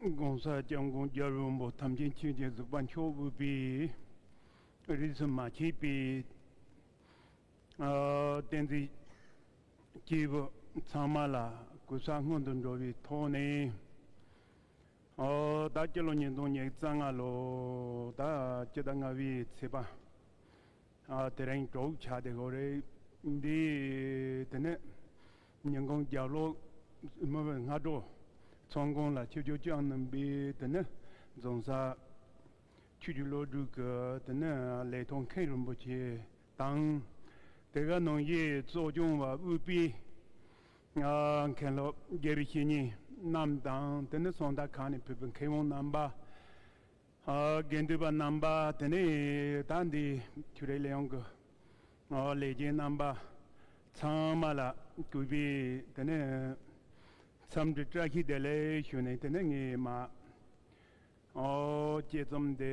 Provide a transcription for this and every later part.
ྋགོང་ས ྋསྐྱབས་མགོན་རྒྱལ་བློན་པོ་དམ་ཅན་ཆོས་རྗེ་གཟིགས་པ་མཆོག་དབུས་པའི་རིས་སུ་མ་ཆད་པའི་བསྟན་འཛིན་སྐྱེས་བུ་ཚང་མ་ལ་གུས་ཞབས་སྔོན་དུ་འགྲོ་བའི་ཐོག་ནས་ཟླ་སྤྱི་ལོ་ཉིས་སྟོང་ཉིས་བརྩ་ལྔ་ལོ་ཟླ་སྤྱི་ཟླ་ལྔ་བའི་ཚེས་པ་དེ་རིང་གྲོགས་བྱ་དེ་གོ་རེ་འདི་ནི་ཉིན་གུང་རྒྱབ་ལོགས་མི་བུ་སྔ་དྲོ་ཚོང་ཁང་ལ་ཆུ་རྒྱུག་བསྐྱངས་གནང་པས་དེ་ནི་རྫོང་སར། ཆུ་རྒྱུག་སློབ་ཕྲུག་གི་དེ་ནི་ལས་ཐོག་མཁན་རིན་པོ་ཆེ་དང། དེ་ག་ནང་བཞིན་གཙོ་སྐྱོང་བ་དབུས་པའི་མཁན་སློབ་དགེ་བཤེས་གཉིས་རྣམས་དང་དེ་ནི་ཚོང་བདག་ཁང་ནས་ཕུད་པའི་མཁས་དབང་རྣམ་པ། དགེ་འདུན་པ་རྣམ་པ་དེ་ནས་ད་འདི་ཁྱུ་རེ་ལས་ཡོང་གི་ལས་རྒྱན་རྣམ་པ་ཚང་མ་ལ་གུས་པས་དེ་ནས་འཚམས་འདྲི་བཀྲ་ཤིས་བདེ་ལེགས་ཞུས་ནས་དེ་ནས་ངས་མ་དཀྱེལ་རྩོམ་དེ།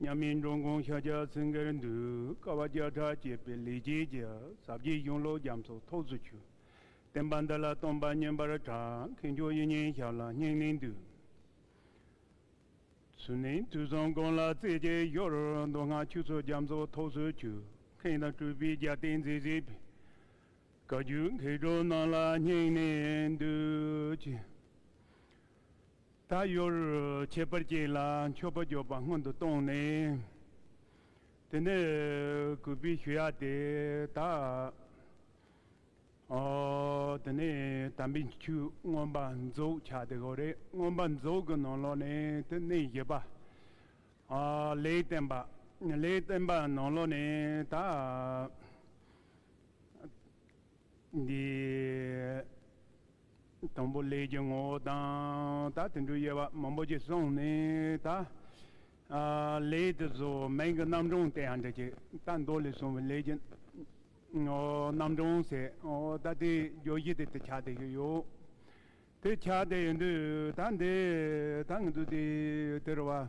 མཉམ་མེད་འགྲོ་མགོན་ཤཱཀྱ་སེང་གེར་འདུད་དཀའ་བ་བརྒྱ་ཕྲག་བསྐྱེད་པའི་ལས་ཀྱི་རྒྱལ་ཟབ་རྒྱས་གཞུང་ལོ་རྒྱམ་ཚོགས་ཐོག་ཚུད་ཆུ་བསྟན་པ་འདི་ལ་སྟོང་པ་སྙན་པར་གྲགས་མཁས་འཇོག་ཡིད་བརྙན་ཞབས་ལ་སྙིང་ནས་འདུད། ཚུལ་ནི་དུས་གསུམ་ཀུན་ལ་རྩེ་རྒྱས་ཤོར་མདོ་སྔགས་ཆོས་ཚུལ་རྒྱམ་ཚོགས་ཐོག་ཚུད་ཆུ་མཁན་དང་སྤྲུལ་པའི་རྒྱལ་བསྟན་མཛེས་བཟོས་པའི་བཀའ་བརྒྱུད་མཁས་གྲུབ་རྣམས་ལ་སྙིང་ནས་འདུད། ད་ཡོར་ཁྱད་པར་ཅན་ལ་མཆོད་པ་འཇོག་པ་སྔོན་དུ་བཏང་ནས། དེ་ནས་གུས་པས་ཞུ་ཡག་དེ་དག། དེ་ནས་དམ་པའི་ཆོས་མངོན་པར་རྫོགས་བྱ་སྟེ་གོ་རེ་མངོན་པར་རྫོགས་ཀྱི་ནང་ལོགས་ནས་དེ་གནས་བཞི་པ། ལེའི་བསྟན་པ་ལེའི་བསྟན་པ་ནང་ལོགས་ནས་དག། འདིའི་དང་པོ་ལས་ཀྱི་ངོ་བོ་དང་ད་དེ་འདྲུལ་དབྱེ་བ་མང་པོ་ཅིག་སོང་ནས་ད་ལས་དེ་གཟུགས་སྨན་གྱི་རྣམ་གྲངས་དེ་ཡང་འདྲི་ཅིག་ད་མདོ་ལས་གསུངས་པའི་ལས་ཀྱི་རྣམ་གྲངས་ཟེར་ད་དེ་རྒྱོ་བཞི་དེ་དེ་ཆ་དེ་ཞིག་ཡོད་དེ་ཆ་དེ་ཡོད་དུས་ད་འདི་ད་ངེས་དུ་དེ་དེར་བ།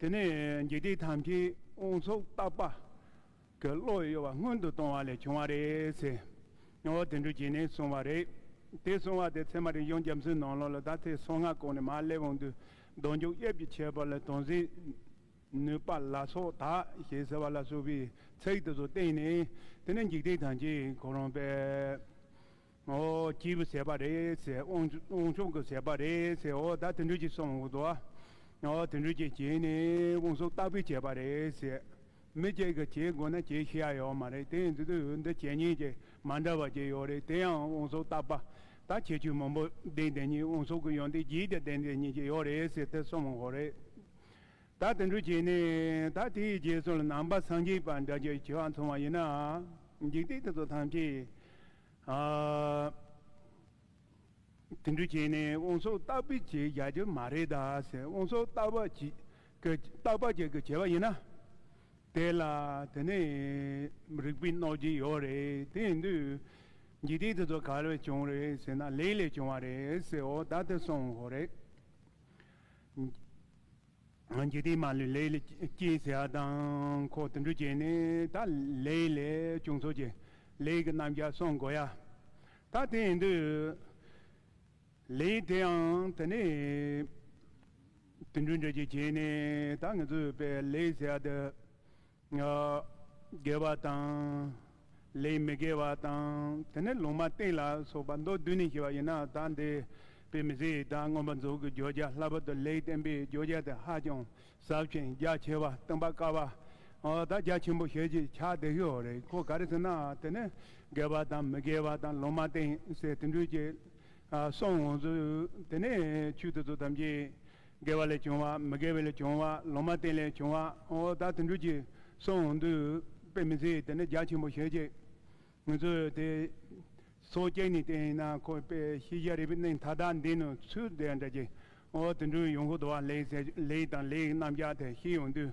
དེ་ནས་འཇིག་རྟེན་ཐམས་ཅད་དབང་སོགས་བརྟག་པ། གི་བློ་གཡོ་བ་སྔོན་དུ་གཏོང་བ་ལས་བྱུང་བ་རེད་ཟེར། ངོ་བོ་དེ་འདྲུ་བྱས་ནས་སོང་བ་རེད། དེ་སོང་བ་དེ་ཚད་མ་རིག་གཞུང་རྒྱ་མཚོའི་ནང་ལོགས་ལ་ད་ཐེངས་སོ་ལྔ་གོང་ནས་མར་སླེབས་འོང་དུས་གདོང་འཇུག་དབྱིབས་ཀྱི་ཁྱད་པར་ལ་དོན་ཟིན། ནུས་པ་ལ་སོགས་དག་ཞེས་ཟེར་བ་ལ་སོགས་པའི་ཚིག་དེ་ཚོ་བསྟན་ནས་དེ་ནས་འཇིག་རྟེན་ཐམས་ཅད་གོ་རུང་བས། ཨོ་སྐྱིད་པོ་བྱས་པ་རེད་ཟེར་དབང་ཕྱུག་གིས་བྱས་པ་རེད་ཟེར་འོ་ད་དེ་འདྲ་ཅིག་སོང་འོ་དེ་འདྲ་ཅིག་བྱས་ནས་དབང་ཕྱུག་སྟག་པས་བྱས་པ་རེད་ཟེར། མི་གཅིག་གིས་བྱེད་དགོས་ན་བྱེད་ཤེས་ཡ་ཡོད་མ་རེད་དེ་འདི་འདི་བྱས་ཉེས་ཀྱི་མ་འདྲ་བ་ཅིག་ཡོད་རེད་དེ་ཡང་དབང་ཕྱུག་སྟག་པ་ད་ཁྱེད་ཆུ་མང་པོ་ལྡན་དེ་ཉིད་དབང་ཕྱུག་གི་ཡོན་ཏན་བརྗིད་ཀྱི་ལྡན་དེ་ཉིད་ཅིག་ཡོད་རེད་ཟེར་དེ་སོང་འོ་རེད། ད་དེ་འདྲ་བྱས་ནས་ད་དེའི་རྗེས་སུ་ལ་ནང་པ་སངས་རྒྱས་པ་འདྲ་ཅིག་བྱེད་དབང་འཚོང་བ་ཡིན་ན་འཇིག་རྟེན་དེ་ཚོ་ཐམས་ཅད་དེ་འདྲ་བྱས་ནས་དབང་སོགས་རྟག་པའི་བྱེད་བྱ་རྒྱུ་མ་རེད་དཱ་ཟེར་དབང་སོགས་རྟག་པ་རྟག་པ་ཅིག་གི་བྱེད་པ་ཡིན་ན། དེ་ལ་དེ་ནས་རིག་པའི་གནོད་བྱེད་ཡོད་རེད་དེ་ཡིན་དུས། འཇིག་རྟེན་དེ་ཚོ་ག་ལས་བྱུང་རེད་ཟེར་ན་ལས་ལས་བྱུང་བ་རེད་ཟེར་འོ་ད་དེ་སོང་ཧོ་རེད། འཇིག་རྟེན་མ་ལུས་ལས་སྐྱེས་ཟེར་བ་དང་ཁོ་དུད་འགྲོ་བྱས་ནས་ད་ལས་ལས་བྱུང་ཚོགས་ཀྱི་ལས་ཀྱི་རྣམ་གཞག་གསུང་དགོས་ཡ། ད་དེ་ཡིན་དུས་ལས་དེའང་དེ་ནས་དུད་འགྲོའི་འགྲེལ་བྱེད་བྱས་ནས་ད་ངེད་ཚོས་པའི་ལས་ཟེར་བ་དེ་ངག་དགེ་བ་དང། ལས་མི་དགེ་བ་དང། དེ་ནས་ལུང་མ་བསྟན་ལ་སོགས་པ་མདོ་བདུན་ནས་བཤད་པ་ཡིན་ན་ད་འདི་པའི་མི་ཚེའི་དང་མངོན་པར་རྫོགས་ཀྱི་བརྗོད་བྱ་སླ་པོ་དང་ལེགས་བསྟན་པའི་བརྗོད་བྱ་དེ་ཧ་ཅང་ཟབ་ཅིང་རྒྱ་ཆེ་བ་སྟོན་པ་དཀའ་བ་དང་རྒྱ་ཆེན་པོ་ཞེས་ཀྱི་ཕྱག་བདེ་ཤོས་རེད་ཁོ་ག་རེ་ཟེར་ན་དེ་ནི་དགེ་བ་དང་མི་དགེ་བ་དང་ལུང་མ་བསྟན་ཟེར་དེ་འདྲུས་ཀྱི་སོང་ངོ་ཚུལ་དེ་ནི་ཆོས་དེ་ཚོ་ཐམས་ཅད། དགེ་བ་ལས་བྱུང་བ་མི་དགེ་བའི་ལས་བྱུང་བ་ལོ་མ་བསྟན་ལས་བྱུང་བའོ། བདག་དུད་འགྲོས་ཀྱི་གསུང་འོང་དུས་དཔེ་མི་ཚེ་དེ་ནི་རྒྱ་ཆེན་པོ་ཞེས་བྱའི། ངུ་ཚོད་དེ། སོ་སྐྱེས་ནི་བསྟན་ཡིན་ན་ཁོ་དཔེ་ཤེས་བྱ་རིག་པའི་གནས་མཐའ་དག་འདི་ནི་ཚུལ་དེ་འདྲ་ཀྱིའོ། དུད་འགྲོའི་ཡོངས་ཤུགས་དུ་བ་ལེགས་ལེགས་དང་ལེགས་རྣམས་ཀྱང་དེ་ཤེས་ཡོང་དུས།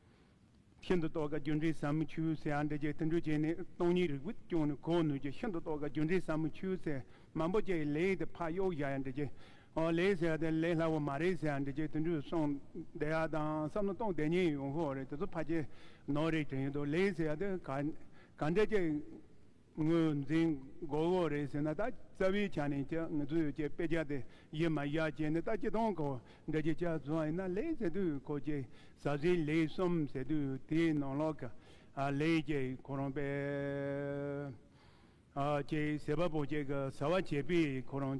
ཤིན་ཏུ་རྟོགས་དཀའ་རྒྱུ་འབྲས་ཟབ་མོ་ཆུད་ཟོས་ཨ་འབྲས་བརྒྱད་བསྟུན་འགྲོས་བྱས་ནས་སྟོང་ཉིད་རིག་པའི་སྐྱོན་ནི་གོ་ནུས་ཀྱི་ཤིན་ཏུ་རྟོགས་དཀའ་རྒྱུ་འབྲས་ཟབ་མོ་ཆུད་ཟོས་མང་པོ་བཅས་ཀྱི་ལས་ཡིག་དེ་ཕག་གཡོག་བཞག་ཡང་འགྲིག་གི། ཨོ་ལེ་ཟེར་བ་དེ་ལས་སླ་བོ་མ་རེད་ཟེར་ཡང་འགྲིག་ཅེས་བསྟུན་འགྲོས་སོང་བསྡད་ཡག་དང་བསམ་བློ་གཏོང་བསྡད་ཉན་ཡོང་ཧོ་རེད་དེ་ཚོ་ཕ་ཆེ་ནོར་རེད་དྲན་ཡོད་དོ་ལེ་ཟེར་བ་དེ་ག་ག་འདྲ་བཅས་ངོས་འཛིན་མགོ་བོ་རེད་ཟེར་ན་ད་རྩ་བའི་ཆ་ནས་ཀྱི་ངལ་རྩོལ་ཡོད་ཀྱི་དཔེ་ཆ་དེ་ཡིན་མ་ཡ་ཅན་ནི་ད་སྤྱི་སྟངས་ཁོ་འདྲ་ཀྱི་ཆ་བཟོ་བ་ཡིན་ན་ལེགས་ཟེར་དུས་ཁོ་ཀྱི་ཟབ་ཟིན་ལེགས་གསུམ་ཟེར་དུས་དེའི་ནང་ལོག་གི་ལེགས་ཀྱི་ཁོ་རང་པས་ཀྱི་ཟེར་བ་པོ་ཅིག་གི་ཟེར་བ་བྱས་པས་ཁོ་རང་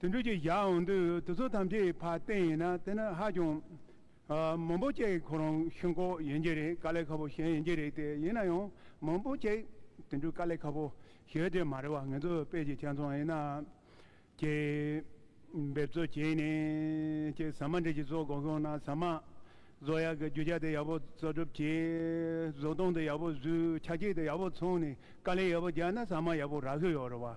དུད་འགྲོ་གྱི་བཞག་འོང་དུས་དུས་ཚོད་ཐམས་ཅད་ཕར་བསྟན་ཡིན་ན་དེ་ནི་ཧ་ཅང། མང་པོ་ཅིག་ཁོ་རང་ཤིན་ཁོག་ཡིན་གྱི་རེད་དཀའ་ལས་ཁག་པོ་གཞན་ཡིན་གྱི་རེད་དེ་ཡིན་ན་ཡང་མང་པོ་ཅིག་དུད་འགྲོ་དཀའ་ལས་ཁག་པོ་ཞེས་དེ་མ་རེད་བ་ངེད་ཚོ་དཔལ་གྱི་ཁྱིམ་ཚང་ཡིན་ན། ཀྱི། འབེབས་རྩོལ་བྱས་ནས་ཀྱི་ཟ་མ་འདྲེ་ཀྱི་བཟོ་དགོངས་ཤོང་ན་ཟ་མ། བཟོ་ཡག་གི་རྒྱུ་ཆ་དེ་ཡག་པོ་བཟོ་སྒྲུབ་བྱས། བཟོ་སྟངས་དེ་ཡག་པོ་བཟོས་ཆ་ཁྱི་དེ་ཡག་པོ་འཚོང་ནས་དཀའ་ལས་ཡག་པོ་རྒྱག་ན་ཟ་མ་ཡག་པོ་རག་གི་ཡོད་རེད་བ།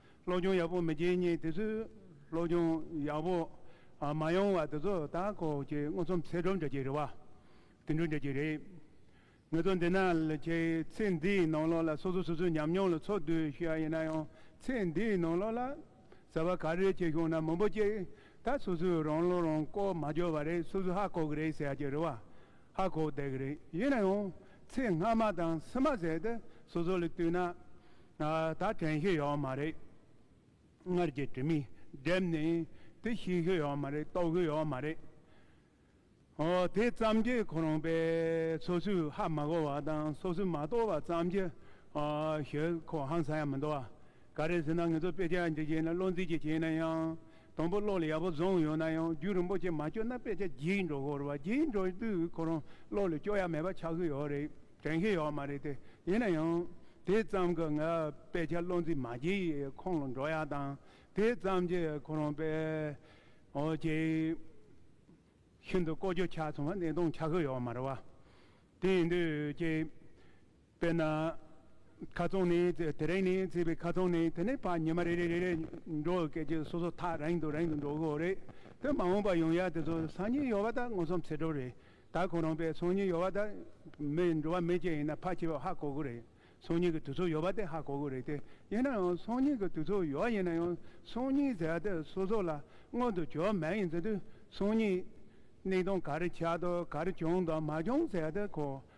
སློབ་སྦྱོང་ཡག་པོ་མི་བྱེད་ཉིན་དེ་ཚོས་སློབ་སྦྱོང་ཡག་པོ་མ་ཡོང་བ་དེ་ཚོ་ད་ཁོ་ཀྱི་མངོན་སུམ་ཚེ་སྒྲུབ་འདྲ་གྱི་རེད་བ། དེ་འདྲུ་འདྲ་གྱི་རེད། ངས་ཚོ་འདི་ན་ཁྱེད་ཚེ་འདིའི་ནང་ལོགས་ལ་སོ་སོ་སོ་སོའི་ཉམས་མྱོང་ལ་ཚོགས་བསྡུས་ཞུ་ཡ་ཡིན་ན་ཡང་ཚེ་འདིའི་ནང་ལོགས་ལ་ཟེར་བ་ག་རེ་བྱས་ཤོང་ན་མང་པོ་ཅིག་ད་སོ་སོའི་རང་བློ་རང་ལྐོག་མ་འཇོག་བ་རེད་སོ་སོ་ཧ་གོ་གི་རེད་ཟེར་ཡ་གྱི་རེད་བ། ཧ་གོ་བདེ་གི་རེད་ཡིན་ན་ཡང་ཚེས་སྔ་མ་དང་ཕྱི་མ་ཟེར་ཏེ་སོ་སོ་ལས་བཏུས་ན་ད་དྲན་ཤེས་ཡོད་མ་རེད། སྔར་གྱི་དྲི་མི་སྒྲིབ་ནས་དེ་ཤེས་ཤེས་ཡོད་མ་རེད་རྟོགས་ཤེས་ཡོད་མ་རེད། ཨོ་དེ་ཙམ་གྱི་ཁོ་རང་པས་སོ་སོའི་ཧ་མ་གོ་བ་དང་སོ་སོས་མ་རྟོགས་པ་ཙམ་གྱི་ཤེས་ཁོ་ཧང་སང་ཡང་མི་འདུག་ཨ། ག་རེ་ཟེར་ན་ངེད་ཚོ་དཔེ་ཆ་འབྲི་བྱེད་ནི་བློ་འཛིན་གྱིས་བྱས་ན་ཡང་དང་པོ་བློ་ལ་ཡག་པོ་བཟུང་ཡོད་ན་ཡང་རྒྱུད་རིན་པོ་ཆེ་མ་བསྐྱོད་ན་དཔེ་ཆ་བགྱིས་འགྲོ་ཁོ་རུ་བ་བགྱིས་འགྲོ་དུས་ཁོ་རང་བློ་ལ་སྐྱོ་ཡ་མེད་པ་ཆགས་ཀྱི་ཡོད་རེད་དྲན་གྱི་ཡོད་མ་རེད་དེ་ཡིན་ན་ཡང་དེ་ཙམ་གྱིས་ང་དཔེ་ཆ་བློ་འཛིན་མ་བགྱིས་ཡས་ཁོང་ལ་འགྲོ་ཡ་དང་དེ་ཙམ་གྱིས་ཁོ་རང་དཔེ་ཆའི་ཤིན་ཏུ་བཀོལ་སྤྱོད་ཆགས་སོང་བ་གནས་སྟངས་ཆགས་ཀྱི་ཡོད་མ་རེད་བ་དེ་ཡིན་དུས་ཀྱི་དཔེར་ན། ཁ་ཚོན་ནི་དེ་རིང་ནས་བརྩིས་པའི་ཁ་ཚོན་ནི་དེ་ནས་བར་ཉི་མ་རེ་རེ་རེ་རེ་འགྲོ་བའི་སྐད་ཅིག་སོ་སོ་ཐག་རིང་དུ་རིང་དུ་འགྲོ་དགོས་རེད་དེ། མ་འོངས་པར་ཡང་ཡང་དེ་ཚོ་སང་ཉིན་ཡོང་བ་དག་མངོན་སུམ་ཚེ་སྒྲུབ་རེད་ད་ཁོ་རང་པས་སང་ཉིན་ཡོང་བ་དག་མི་འགྲོ་བ་མི་ཅན་ཡིན་ན་ཕར་ཆེ་བས་ཧ་གོ་དགོས་རེད་སང་ཉིན་གྱི་དུས་ཚོད་ཡོལ་བ་དེ་ཧ་གོ་དགོས་རེད་དེ། ཡིན་ན་ཡང་སང་ཉིན་གྱི་དུས་ཚོད་ཡོལ་བ་ཡིན་ན་ཡང་སང་ཉིན་ཟེར་བ་དེ་སོ་སོ་ལ་མངོན་དུ་གྱུར་མ་ཡིན་ཟེར་དུས་སང་ཉིན་གནས་སྟངས་ག་རེ་ཆགས་དང་ག་རེ་བྱུང་དང་མ་བྱུང་ཟེར་བ་དེ་ཁོ་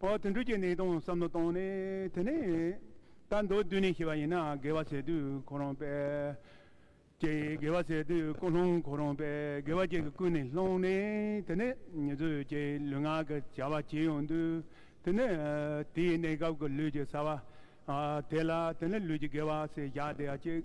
འོ་དུད་འགྲོས་ཀྱི་གནས་སྟངས་བསམ་བློ་བཏང་ནས་དེ་ནས་ད་མདོ་བསྡུས་ནས་ཤེས་པ་ཡིན་ན་དགེ་བ་ཚེ་དུས་ཁོ་རང་པས། ཀྱེ་དགེ་བ་ཚེ་དུས་ཀུན་སློང་ཁོ་རང་པས་དགེ་བ་ཅན་གྱི་ཀུན་ནས་སློང་ནས་དེ་ནས་ཉེ་རྫུས་ཀྱི་ལུས་ངག་གི་བྱ་བ་བྱེད་ཡོང་དུས་དེ་ནས་དེའི་གནས་སྐབས་ཀྱི་ལུས་ཀྱི་ས་བ་དེ་ལ་དེ་ནས་ལུས་ཀྱི་དགེ་བ་ཚེ་བཞག་བསྡད་ཅིག།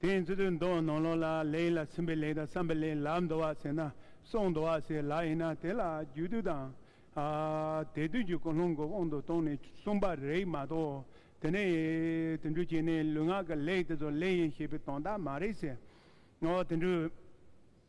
དེ་ཡིན་ཚུལ་དུ་འདོད་ནོ་ལོག་ལ་ལས་ཡིད་ལ་ཚིམ་པའི་ལས་དང་བསམ་པའི་ལས་ལ་འདོད་བ་ཟེར་ན་སོགས་འདོད་བ་ཟེར་ལ་ཡིན་ན་དེ་ལ་རྒྱུ་དུས་དང། དེ་དུས་ཀྱི་ཀུན་སློང་གི་དབང་དུ་བཏང་ནས་གསུངས་པ་རེད་མ་གཏོགས་དེ་ནས་དེ་འདྲུ་བྱས་ནས་ལུས་ངག་གི་ལས་དེ་ཚོ་ལས་ཡིན་ཞེས་པའི་དོན་དག་མ་རེད་ཟེར། དེ་འདྲུ།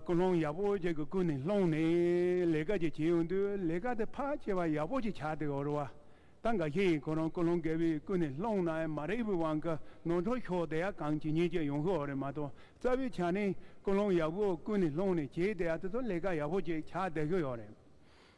སྐུ་སློང་ཡག་པོ་ཅིག་གི་སྐུ་ནས་སློང་ནས་ལས་ཀ་ཅིག་བྱེད་ཡོང་དུས་ལས་ཀ་དེ་ཕར་བྱེད་པ་ཡག་པོ་ཅིག་ཆགས་འདུག་འོར་བ་ད་འགའ་ཤས་ཡིན་ཁོ་རང་སྐུ་སློང་རྒད་པོའི་སྐུ་ནས་སློང་ན་མ་རེད་བུ་དབང་གི་ནོར་འཕྲོག་ཤོག་དེ་ཡག་གང་ཇི་སྙེད་ཅིག་ཡོང་གི་འོ་རེད་མ་གཏོགས་རྩ་བའི་ཆ་ནས་སྐུ་སློང་ཡག་པོ་སྐུ་ནས་སློང་ནས་བྱས་དེ་ཡག་དེ་ཚོ་ལས་ཀ་ཡག་པོ་ཅིག་ཆགས་བསྡད་ཀྱི་ཡོད་རེད་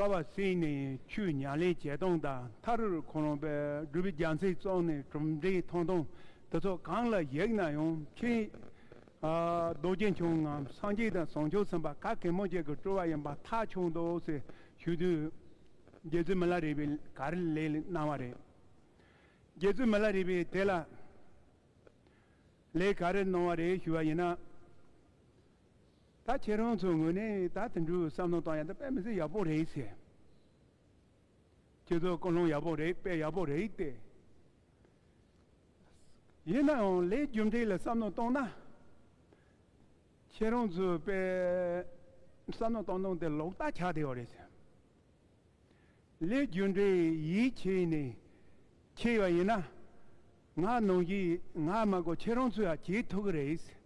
ཀ་བ་སྲིད་ནས་ཆུ་ཉག་ལེན་བྱེད་སྟངས་དང་མཐར་རུར་ཁོ་རང་པའི་སྒྲུབ་པའི་རྒྱ་མཚན་བཙོང་ནས་གྲུབ་འབྲས་ཐོང་ཐོང་དེ་ཚོ་གང་ལ་གཞིགས་ན་ཡང་ཆེས་རྡོ་རྗེ་འཆང་ངམ་སངས་རྒྱས་དང་བཟང་སྤྱོད་ཚན་པ་ག་གེ་མོ་ཅིག་གི་སྤྲོ་བ་ཡིན་པ་མཐའ་འཁྱོངས་འདུག་ཟེར་ཞུས་དུས། རྒྱལ་བཙུན་མི་ལ་རས་པས་ག་རེ་ལས་གནང་བ་རེད། རྒྱལ་བཙུན་མི་ལ་རས་པས་དེ་ལ་ལས་ག་རེ་གནང་བ་རེད་ཞུས་པ་ཡིན་ན། ད་ཁྱེད་རང་ཚོའི་ངོས་ནས་ད་དེ་འདྲའི་བསམ་བློ་བཏང་ཡག་དེ་དཔེ་མི་སྲིད་ཡག་པོ་རེད་ཟེར། ཁྱེད་ཚོའི་ཀུན་སློང་ཡག་པོ་རེད་དཔེ་ཡག་པོ་རེད་ལྟས། ཡིན་ནའང་ལས་རྒྱུ་འབྲས་ལ་བསམ་བློ་བཏང་ན། ཁྱེད་རང་ཚོའི་དཔེ་བསམ་བློ་བཏང་བཏང་དེ་ལོག་ལྟ་ཆགས་བསྡད་པ་རེད་ཟེར། ལས་རྒྱུ་འབྲས་ཡིད་ཆེས་ནས་ཁྱེར་བ་ཡིན་ན། ང་ནང་གི་ང་མ་གོ་ཁྱེད་རང་ཚོས་ཡང་བྱེད་ཐུབ་ཀྱི་རེད།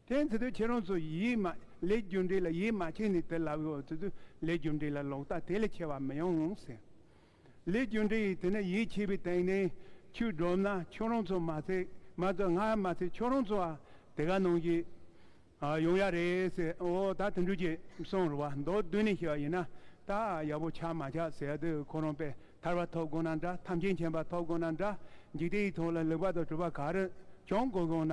དེ་ནས་དེ་དུས་ཁྱེད་རང་ཚོ་ཡིད་མ་ལས་རྒྱུ་འབྲས་ལ་ཡིད་མ་ཆེས་ནས་དེ་ལབ་ཡོང་དེ་དུས་ལས་རྒྱུ་འབྲས་ལ་ལོག་ལྟ་དེ་ལས་ཆེ་བ་མི་ཡོང་ཟེར། ལས་རྒྱུ་འབྲས་ཡིས་དེ་ནས་ཡིད་ཆེས་པའི་སྟེང་ནས་ཁྱོད་སྒྲོབ་ན་ཁྱོད་རང་ཚོ་མ་ཚད་མ་ཚད་ང་མ་ཚད་ཁྱོད་རང་ཚོ་དེ་ག་ནང་གི་ཡོང་ཡ་རེད་ཟེར་འོ་ད་དུད་འགྲོས་ཀྱི་གསུང་རུ་བ་མདོ་བསྡུས་ནས་བཤད་པ་ཡིན་ན་ད་ཡག་པོ་ཆགས་མ་ཆགས་ཟེར་དུས་ཁོ་རང་པས་ཐར་བ་ཐོབ་དགོས་ན་འདྲ་ཐམས་ཅད་མཁྱེན་པ་ཐོབ་དགོས་ན་འདྲ་འཇིག་རྟེན་ཡི་ཐོག་ལ་ལེགས་པ་དང་གྲུབ་པ་ག་རེ་བྱུང་དགོས་དགོས་ན་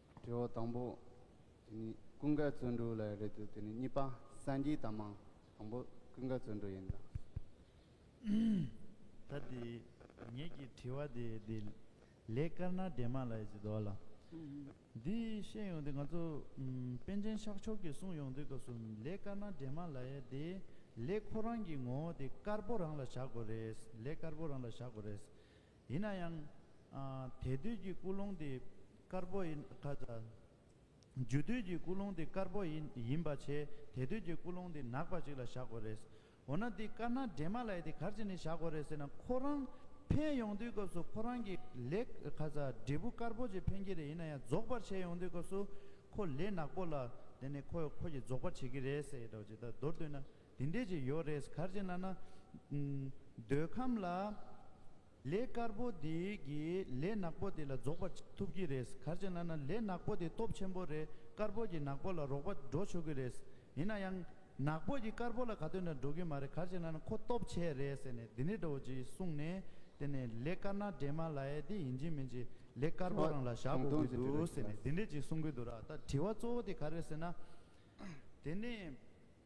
དྲི་བ་དང་པོ། དེ་ནི་ཀུན་དགའ་བརྩོན་འགྲུས་ལ་རེད་དུས་དེ་ནི་གཉིས་པ་སངས་རྒྱས་དང་མང་དང་པོ་ཀུན་དགའ་བརྩོན་འགྲུས་ཡིན་དང། ད་དེ་ངེད་ཀྱི་དྲི་བ་དེ་དེ་ལས་དཀར་ནག་འདྲེས་མ་ལ་ཡི་ཅི་དོགས་ལ། འདི་བཤད་ཡོང་དུས་ང་ཚོ་པན་ཆེན་ཤག་ཕྱོགས་ཀྱི་གསུང་ཡོང་དུས་སྐབས་སུ་ལས་དཀར་ནག་འདྲེས་མ་ལ་ཡི་དེ་ལས་ཁོ་རང་གི་ངོ་བོ་དེ་དཀར་པོ་རང་ལ་བཞག་དགོས་རེད་ལས་དཀར་པོ་རང་ལ་བཞག་དགོས་རེད། ཡིན་ན་ཡང། དལ་དུས་ཀྱི་ཀུན་སློང་དེ་དཀར་པོ་ཡིན། རྒྱུ་དུས་ཀྱི་ཀུན་སློང་དེ་དཀར་པོ་ཡིན་ཡིན་པ་བྱས་དལ་དུས་ཀྱི་ཀུན་སློང་དེ་ནག་པ་ཅིག་ལ་བཞག་དགོས་རེད། འོ་ན་འདི་དཀར་ནག་འདྲེས་མ་ལ་ཡི་དེ་གར་ཅི་ནས་བཞག་དགོས་རེད་ཟེར་ན་ཁོ་རང་འཕེན་ཡོང་དུས་སྐབས་སུ་ཁོ་རང་གི་ལས། འབྲས་བུ་དཀར་པོ་ཅིག་འཕེན་གྱི་རེད་ཡིན་ན་ཡང་རྫོགས་པར་བྱས་ཡོང་དུས་སྐབས་སུ་ཁོ་ལས་ནག་པོ་ལ་དེ་ནས་ཁོ་ཡོད་ཁོ་གྱིས་རྫོགས་པར་བྱེད་ཀྱི་རེད་ཟེར་ཡོད་དྲག་ཅེས་ད་མདོར་བསྡུས་ན། དེ་འདྲས་ཀྱི་ཡོད་རེད་གར་བྱེད་ན་ན། འདོད་ཁམས་ལ། ལས་དཀར་པོ་དེ་གིས་ལས་ནག་པོ་དེ་ལ་རྫོགས་པར་ཐུབ་ཀྱི་རེད་གར་བྱེད་ན་ན་ལས་ནག་པོ་དེ་སྟོབས་ཆེན་པོ་རེད་དཀར་པོ་གྱིས་ནག་པོ་ལ་རོགས་པ་འགྲོ་ཆོག་གི་རེད། ཡིན་ན་ཡང། ནག་པོ་གྱིས་དཀར་པོ་ལ་ག་དུས་ན་འགྲོ་གི་མ་རེད་གར་བྱེད་ན་ན་ཁོ་སྟོབས་ཆེ་རེད་ཟེར་ནས་དེ་འདྲས་འགྲོ་ཅེས་གསུངས་ནས་དེ་ནས་ལས་དཀར་ནག་འདྲེས་མ་ལ་ཡས་དེ་ཡིན་གྱི་མིན་གྱི་ལས་དཀར་པོ་རང་ལ་བཞག་དགོས་ཀྱི་འདུག་ཟེར་ནས་དེ་འདྲས་ཀྱིས་གསུང་གི་འདུག་ར་ད་དྲི་བ་གཙོ་བོ་དེ་ག་རེད་ཟེར་ན། དེ་ནས།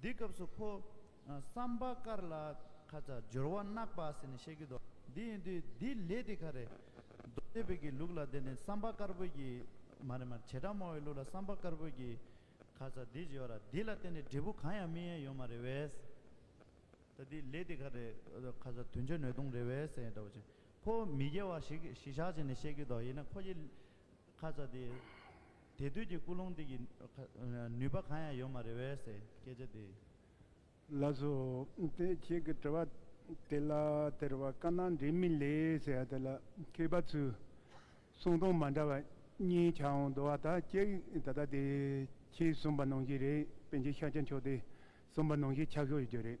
འདི་སྐབས་སུ་ཁོ། སམ་བྷ་ཀར་ལ། ཁ་ལྕགས་སྦྱོར་བ་བརྣག་པ་ཟེར་ནས་བཤད་ཀྱི་འདུག་འདི་ཡིན་དུས་འདི་ལས་དེ་ག་རེད། རྡོ་རྗེ་བོད་ཀྱི་ལུགས་ལ་དེ་ནི་སམ་བྷ་ཀར་བོད་ཀྱི། མ་རེད་མ་རེད་བྱེ་བྲག་མང་བའི་ལུགས་ལ་སམ་བྷ་ཀར་བོད་ཀྱི། ཁ་ལྕགས་འདི་སྦྱོར་བ་འདི་ལ་བརྟེན་ནས་འབྲས་བུ་གང་ཡང་སྨིན་ཡ་ཡོད་མ་རེད་བས། ད་འདི་ལས་དེ་ག་རེད། ཁ་ལྕགས་དུས་མཆོད་ནོད་སྟོང་རེད་བས་ཟེར་འདྲ་བོ་བྱས། ཁོ། མི་དགེ་བ་ཞིག་གིས་གཞི་བཞག་བྱས་ནས་བཤད་ཀྱི་འདུག་ཡིན་ན་ཁོ་ཀྱིས། ཁ་ལྕགས་འདི། དེ་དུས་ཀྱི་ཀུན་སློང་འདི་ཀྱི་ནུས་པ་གང་ཡང་ཡོད་མ་རེད་བས་སའི་སྐད་ཆ་དེ། ལགས་སོ། དེ་ཁྱེད་ཀྱི་དྲི་བ་དེ་ལ་དེར་བ་ཀ་ན་འབྲེལ་མི་ལེ་ཟེར་བ་དེ་ལ་མཁས་པ་ཚོས་གསུང་སྟངས་མ་འདྲ་བ་གཉིས་ཆ་འོང་འདུག་བ་ད་ཀྱེ་ད་ལྟ་དེ་ཁྱེད་གསུངས་པ་ནང་བཞིན་རེད་པན་ཆེན་ཤཱཀྱ་མཆོག་དེ་གསུངས་པ་ནང་བཞིན་ཆགས་ཤོག་ཡོད་རྒྱུ་རེད།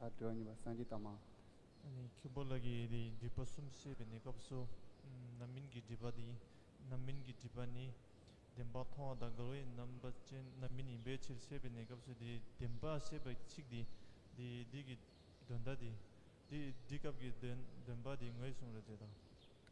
ལྷ་དྲི་བ་མྱོས་པ་སངས་རྒྱས་བལྟ་མ། མཁན་པོ་ལགས་ཀྱིས་དེའི་སྒྲིབ་པ་གསུམ་བཤད་པའི་གནས་སྐབས་སུ། རྣམ་སྨིན་གྱི་སྒྲིབ་པ་དེ་རྣམ་སྨིན་གྱི་སྒྲིབ་པ་ནི། བདེན་པ་མཐོང་བ་དང་འགལ་བའི་རྣམ་པ་ཅན་རྣམ་སྨིན་ཡིན་པའི་ཕྱིར་བཤད་པའི་གནས་སྐབས་སུ་དེའི་བདེན་པ་ཤེས་པ་གཅིག་དེ་དེའི་སྒྲིབ་ཀྱི་དོན་ལྟ་སྟེ། དེའི་སྒྲིབ་སྐབས་ཀྱི་དོན་དོན་པ་དེ་ངོས་བཟུང་རེ་མཛད་དོ།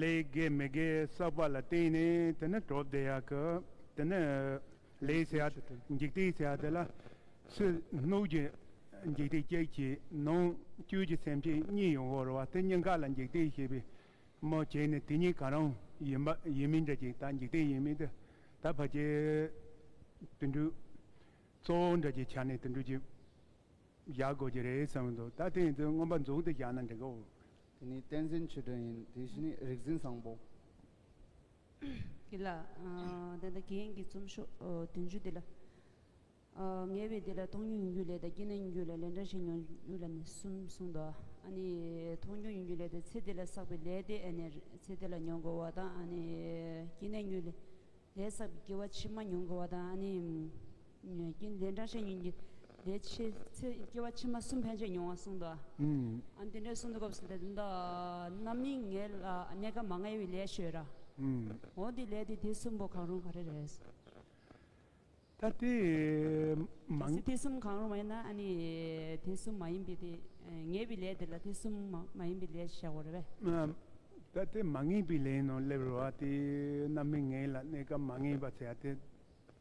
ལས་དགེ་མི་དགེ་བསགས་པ་ལ་བརྟེན་ནས་དེ་ནི་གྲོགས་བདེ་ཡག་གི་དེ་ནི། ལས་ཟད་འཇིག་རྟེན་ཟད་དེ་ལ་སྲིད་གནོད་ཀྱི་འཇིག་རྟེན་སྐྱེད་ཀྱི་ནང་བཅུད་ཀྱི་སེམས་ཅན་གཉིད་ཡོང་བར་བ་དེ་གཉི་ག་ལ་འཇིག་རྟེན་ཞེས་པའི་མོ་བྱས་ནས་དེ་གཉིས་ག་རང་ཡིན་པ་ཡིན་མིན་འདྲ་ཅིག་ད་འཇིག་རྟེན་ཡིན་མིན་དེ་ད་ཕ་རྒྱལ་དུད་འགྲོའི་གཙོ་བོ་འདྲ་ཅིག་ཆ་ནས་དུད་འགྲོ་ཅིག་བཞག་དགོས་ཀྱི་རེད་བསམ་གྱི་འདུག་ད་དེ་ཡིན་དུས་མངོན་པ་རྫུན་དུ་བཞག་ན་འགྲིག་གོ། དེ་ནི་བསྟན་འཛིན་ཆོས་སྒྲོན་ཡིན། དེ་བཞི་ནི་རིག་འཛིན་བཟང་པོ། འདི་ལ། དེ་ལྟར་རྒྱན་གྱི་རྩོམ་ཤོག་བདུན་ཅུ་འདི་ལ། ངེས་པའི་འདི་ལ་མཐོང་རྒྱུ་ཡིན་རྒྱུ་ལས་དང་སྐྱེ་གནས་ཡིན་རྒྱུ་ལས་ལས་འདྲ་བྱེད་མྱོང་རྒྱུ་ལ་ནི་གསུམ་གསུངས་ཏོ། ཨ་ནི། མཐོང་རྒྱུ་ཡིན་རྒྱུ་ལས་དང་ཚེ་འདི་ལ་བསགས་པའི་ལས་ཏེ་ཨ་ནི། ཚེ་འདི་ལ་མྱོང་དགོས་བ་དང་ཨ་ནི། སྐྱེ་གནས་ཡིན་རྒྱུ་ལས། ལས་བསགས་པའི་སྐྱེ་བ་ཕྱི་མ་མྱོང་དགོས་བ་དང་ཨ་ནི། ཉོན་རྒྱུན་དེ་འདྲ་བྱེད་ཉོན་རྒྱུ་དེ་ཕྱི་ཚེ་སྐྱེ་བ་ཕྱི་མ་གསུམ་ཕན་ཆད་མྱོང་བ་གསུངས་འདུག་ཨ་འདི་འདྲའི་གསུང་དུ་སྐབས་སུ་དེ་འདྲ་རྣམ་སྨིན་ངེས་ལ་གནས་སྐབས་མ་ངེས་པའི་ལས་བྱོས་ར་འོ་དེ་ལས་དེ་དེ་གསུམ་པོ་གང་རུང་ག་རེ་རེད། ད་དེ་མ། གལ་སྲིད་དེ་གསུམ་གང་རུང་མ་ཡིན་ན་ཨ་ནི་དེ་གསུམ་མ་ཡིན་པའི་དེ་ངེས་པའི་ལས་དེ་ལ་དེ་གསུམ་མ་ཡིན་པའི་ལས་བྱ་དགོས་རེད་བས། ད་དེ་མ་ངེས་པའི་ལས་ནང་སླེབས་རུང་བ་དེ་རྣམ་སྨིན་ངེས་ལ་གནས་སྐབས་མ་ངེས་པ་བྱ་དེ་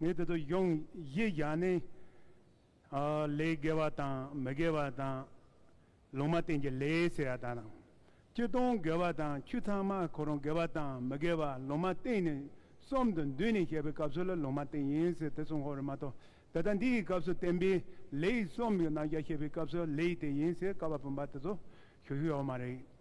ངས་དེ་ཚོ་ཡོངས་གཞི་བཞག་ནས། ལས་དགེ་བ་དང་མི་དགེ་བ་དང། ལུང་མ་བསྟན་གྱི་ལས་ཟེར་བ་དག་དང། ཁྱི་སྟོང་དགེ་བ་དང་ཁྱི་ཚང་མ་གོ་རུང་དགེ་བ་དང་མི་དགེ་བ་ལུང་མ་བསྟན་ནས་གསུམ་དུ་འདུས་ནས་བཤད་པའི་སྐབས་སུ་ལ་ལུང་མ་བསྟན་ཡིན་ཟེར་དེ་གསུང་ཁོག་རེད་མ་གཏོགས་ད་ལྟ་འདི་ཡི་སྐབས་སུ་བསྟན་པའི་ལས་གསུམ་ཡོད་ནང་རྒྱ་བཤད་པའི་སྐབས་སུ་ལས་དེ་ཡིན་ཟེར་ཀ་བ་བུམ་པ་དེ་ཚོ་ཞུ་ཤེས་ཡོད་མ་རེད།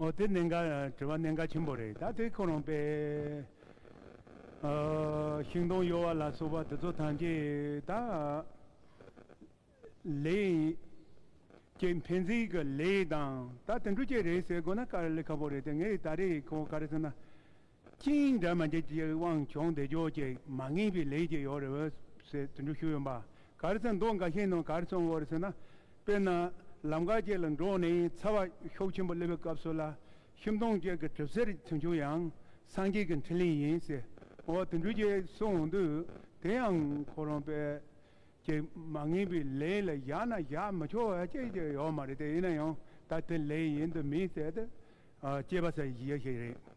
ཨོ་དེ་གནད་འགག་དྲི་བ་གནད་འགག་ཆེན་པོ་རེད་ད་དེ་ཁོ་རང་པས། ཤིང་སྡོང་གཡོ་བ་ལ་སོགས་པ་དེ་ཚོ་ཐམས་ཅད་ད། ལས། ཀྱི་འཕེན་རྩིས་ཀྱི་ལས་དང་ད་དེ་འདྲུ་ཅན་རེད་ཟེར་དགོས་ན་དཀའ་ལས་ཁ་པོ་རེད་དེ་ངས་ད་རེས་ཁོ་ག་རེ་ཟེར་ན། ཅིང་ཡིན་འདྲ་མ་འདྲ་ཅིག་དབང་ཆོག་འདེགས་འཇོག་ཅིག་མ་ངེས་པའི་ལས་ཅིག་ཡོད་རེད་ཟེར་དུད་འགྲོ་ཞུ་ཡོད་པ་ག་རེ་ཚང་མདོག་འགའ་ཤས་ནང་ག་རེ་སོང་འོ་རེད་ཟེར་ན་དཔེར་ན་ལམ་ཁ་ཅིག་ལ་འགྲོ་ནས་ཚ་བ་ཤོག་ཆེན་པོ་སླེབས་པའི་སྐབས་སུ་ལ་ཤིང་སྡོང་ཅིག་གི་གྲིབ་སེར་ཐོན་བྱུང་ཡང་སངས་རྒྱས་ཀྱི་འཕྲིན་ལས་ཡིན་ཟེར་འོ་དུད་འགྲོ་ཅིག་སོང་འོང་དུས་དེ་ཡང་ཁོ་རང་དཔེ་ཅིག་མ་ངེས་པའི་ལས་ལ་བཞག་ན་བཞག་མི་ཆོག་བ་ཅིག་ཅིག་ཡོད་མ་རེད་དེ་ཡིན་ན་ཡང་ད་དེ་ལས་ཡིན་དུ་མི་ཟེར་ཏེ་སྐྱེས་པ་ཟེར་བ་ཞིག་ཡོད་ཞིག་རེད།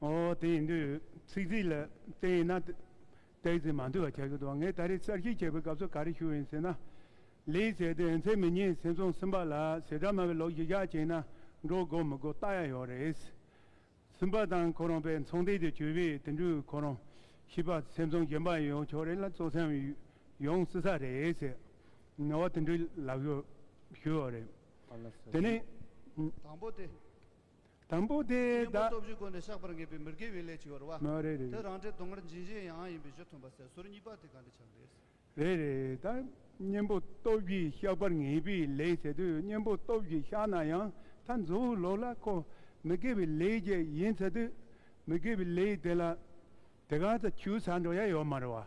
ཨོ་དེ་ཡིན་དུས་ཚིག་རྩིས་ལ་བརྟེན་ཡིན་ན། བཏགས་རྩིས་མ་འདུས་པ་བྱ་རྒྱུ་དང་ངས་ད་རེས་གསར་བཞེངས་བྱས་པའི་སྐབས་སུ་ག་རེ་ཞུ་ཡིན་ཟེར་ན། ལེའི་ཟེར་དེ་ཨེན་ཚའི་མི་ཉིད་སེང་རྫོང་སིམ་པ་ལ་ཟེ་སྒྲ་སྨྲ་བའི་ལོ་བཞི་ཞག་ཅིག་ན་འགྲོ་དགོས་མི་དགོས་བལྟ་ཡ་ཡོད་རེད། སིམ་པ་དང་ཁོ་རང་པའི་མཚང་སྟེང་དུ་བྱོས་པས་དེ་འདྲུད་ཁོ་རང་ཤི་བ་སེང་རྫོང་བཞིན་པ་ཡོང་ཆོག་རེད་ལ་གཙོ་སེམས་ཡོང་སྲིད་ས་རེད། ཨོ་དེ་འདྲུད་ལབ་ཞུ་ཡོད་རེད། དེ་ནས། དང་པོ་དེ། དང་པོ་དེ་གཉེན་པོ་སྟོབས་བཞི་བཀོད་ནས་བཤགས་པར་ངེས་པའི་མི་དགེ་བའི་ལས་བྱེད་པར་བ། མ་རེད་དེ་རང་འབྲས་སྡོང་གར་འབྱིན་བྱེད་ཡང་ཡིན་པའི་གཞི་མཐུན་པ་ཟད་ཟུར་གཉིས་པ་དེ་གང་དུ་ཆགས་འདེད། རེད་རེད་ད། གཉེན་པོ་སྟོབས་བཞི་བཤགས་པར་ངེས་པའི་ལས་བྱེད་དུས་གཉེན་པོ་སྟོབས་བཞི་བཤགས་ན་ཡང་ད་གཟུ་བོའི་ལོགས་ལ་ཁོ་མི་དགེ་བའི་ལས་བརྒྱད་ཡིན་ཚེ་དུས་མི་དགེ་བའི་ལས་དེ་ལ་དེ་གང་དུ་ཆུད་ཟ་འགྲོ་ཡ་ཡོད་མ་རེད་བ།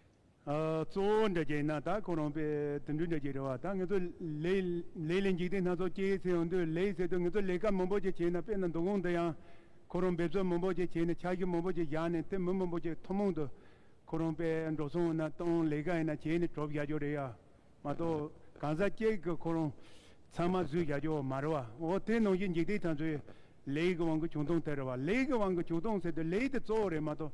གཙོ་བོ་འདྲ་རྒྱ་ཡིན་ན་དག་ཁོ་རང་པས་དུད་འགྲོའི་འདྲ་རྒྱའི་རེ་བ་དང་ངེད་ཚོ་ལས་ལས་ལས་འཇིག་རྟེན་སྣ་ཚོགས་སྐྱེའི་ཚེ་ཡང་དུས་ལས་ཟེར་དུས་ངེད་ཚོ་ལས་ཀ་མང་པོ་ཅིག་བྱས་ན་དཔེར་ན་འདུ་ཁང་འདི་ཡང་ཁོ་རང་འབེབས་གསོ་མང་པོ་ཅིག་བྱས་ནས་ཆར་ཆུ་མང་པོ་ཅིག་བཞག་ནས་དེ་མི་མང་པོ་ཅིག་ཐུན་མོང་དུ་ཁོ་རང་པས་འགྲོ་སོང་ཡིན་ན་བཏང་ལས་ཀ་ཡིན་ན་བྱས་ནས་གྲོབ་བཞག་རྒྱུ་རེད་ཡ་མ་གཏོགས་གང་ཟག་གཅིག་གིས་ཁོ་རང་ཚང་མ་བཟོས་བཞག་རྒྱུ་མ་རེད་བ་འོ་དེ་ནང་བཞིན་འཇིག་རྟེན་ད་ཚོད་ལས་ཀྱི་དབང་གིས་བྱུང་སྟངས་དེ་རེད་བ་ལས་ཀྱི་དབང་གིས་བྱུང་སྟངས་ཟེར་དུས་ལས་དེ་གཙོ་བོ་རེད་མ་གཏོགས་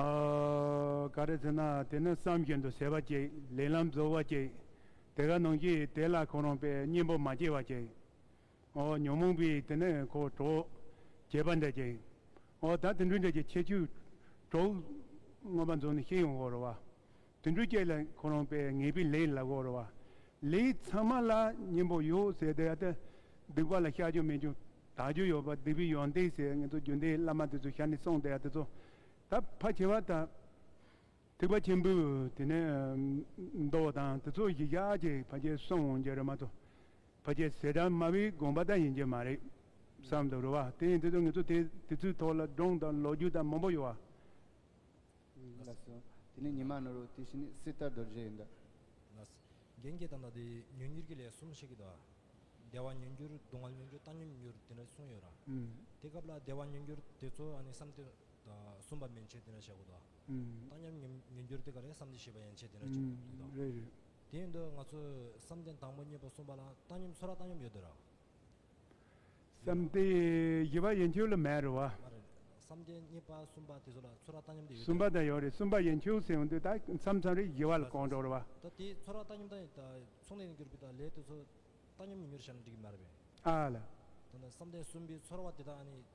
ཨ། ག་རེ་ཟེར་ན་དེ་ནི་བསམ་བཞིན་དུ་ཟེར་བ་ཅིག་ལས་ལམ་རྫོགས་བ་ཅིག་དེ་ག་ནང་གི་དེ་ལ་ཁོ་རང་པའི་གཉེན་པོ་མ་སྐྱེས་བ་ཅིག་ཨོ། ཉོན་མོངས་པའི་དེ་ནི་ཁོ་གྲོགས་བྱེད་པ་འདྲ་ཅིག་ཨོ། ད་དེ་འདྲུད་འདྲ་ཅིག་ཁྱེད་ཆོས་གྲོགས་དངོས་པ་འཛོམས་ནས་ཤེས་ཡོང་བར་བ། དུད་འགྲོའི་སྐྱེས་ལ་ཁོ་རང་པས་ངེས་པའི་ལས་ལ་བོར་བ། ལས་ཚང་མ་ལ་སྙིང་པོ་ཡོད་ཟེར་དེ་ལྟ་སྡིག་པ་ལ་བཤགས་རྒྱུ་མེད་ཀྱང་དག་རྒྱུ་ཡོད་པ་སྡིག་པའི་ཡོན་ཏན་ཞེས་ངེད་ཚོ་རྒྱུན་ལྡན་བླ་མ་དེ་ཚོས་ཞལ་ནས་གསུངས་དེ་དེ་ཚོ་ད་ཕ་བྱེ་བ་དང། ཐེག་པ་ཆེན་པོའི་དེ་ནས་མདོ་བ་དང་དེ་ཚོ་གཞི་བཞག་གི་ཕ་བྱེ་གསུངས་འོང་རྒྱུ་རེད་མ་གཏོགས་ཕ་བྱེ་ཟེར་གྲངས་དམའ་བའི་དགོངས་པ་དག་ཡིན་རྒྱུ་མ་རེད་བསམ་དུ་རུ་བ་དེ་ཡིན་དུས་ཚོད་ངེད་ཚོ་དེ་དེ་ཚོའི་ཐོག་ལ་སྒྲུང་དང་ལོ་རྒྱུས་དག་མང་པོ་ཡོད་བ། ལ་སོ། དེ་ནས་ཉི་མ་ནོར་བུ་དེ་བཞིན་ནི་སྲིད་ལྟར་རྡོ་རྗེ་ཡིན་ཏེ། ལ་སོ། རྒྱན་གྱི་དང་དང་དེ་ཉོན་གྱུར་གྱི་ལས་གསུམ་ཞིག་གི་དོ། བདེ་བ་ཉོན་གྱུར་སྡུག་བསྔལ་ཉོན་གྱུར་རྟག་ཉོན་གྱུར་དེ་འདྲ་གསུངས་ཡོད་ར། དེ་སྐབས་ལ་བདེ་བ་ཉོན་གྱུར་དེ་ཚོ་ཡང་ནི་བསམ་སྟེ། གསུམ་པ་མན་ཆད་དེ་འདྲ་བྱ་དགོས་དོ། རྟག་ཉོན་ཉོན་གྱུར་དེ་ག་རེ་བསམ་སྟེ་ཞེས་པ་ཡན་ཆད་དེ་འདྲ་བྱ་དགོས་དོ། དེ་ཡིན་དུ་ང་ཚོས་བསམ་གཏན་དང་པོ་གཉིས་པ་གསུངས་པ་ལ་བཏང་སྙོམས་ཚོ་ར་བཏང་སྙོམས་ཡོད་དོ་ར། བསམ་གཏན་བཞི་པ་ཡན་ཆོད་ལ་མེད་རེད་བ། མ་རེད། བསམ་གཏན་གཉིས་པ་གསུམ་པ་དེ་ཚོ་ལ་ཚོ་ར་ལྟ་སྙོམས་དེ་ཡོད་གསུམ་པ་དང་ཡོད་རེད་གསུམ་པ་ཡན་ཆོད་ཟེར་འདུག་ད་མཚམས་མཚམས་རེ་བཞི་བ་ལ་གང་འགྲོ་རེད་བ། ད་དེ་ཚོ་ར་ལྟ་སྙོམས་དང་མཚུངས་ལས་འགྱུར་བའི་ད་ལས་དེ་ཚོ་ལྟ་སྙོམས་ཉིན་མོར་བྱས་ན་འགྲིག་གི་མ་རེད་པས། ཨ་ལ། ད་ནི་བསམ་གཏན་གསུམ་པའི་ཚོ་ར་བ་དེ་དག་ཨ་ནི།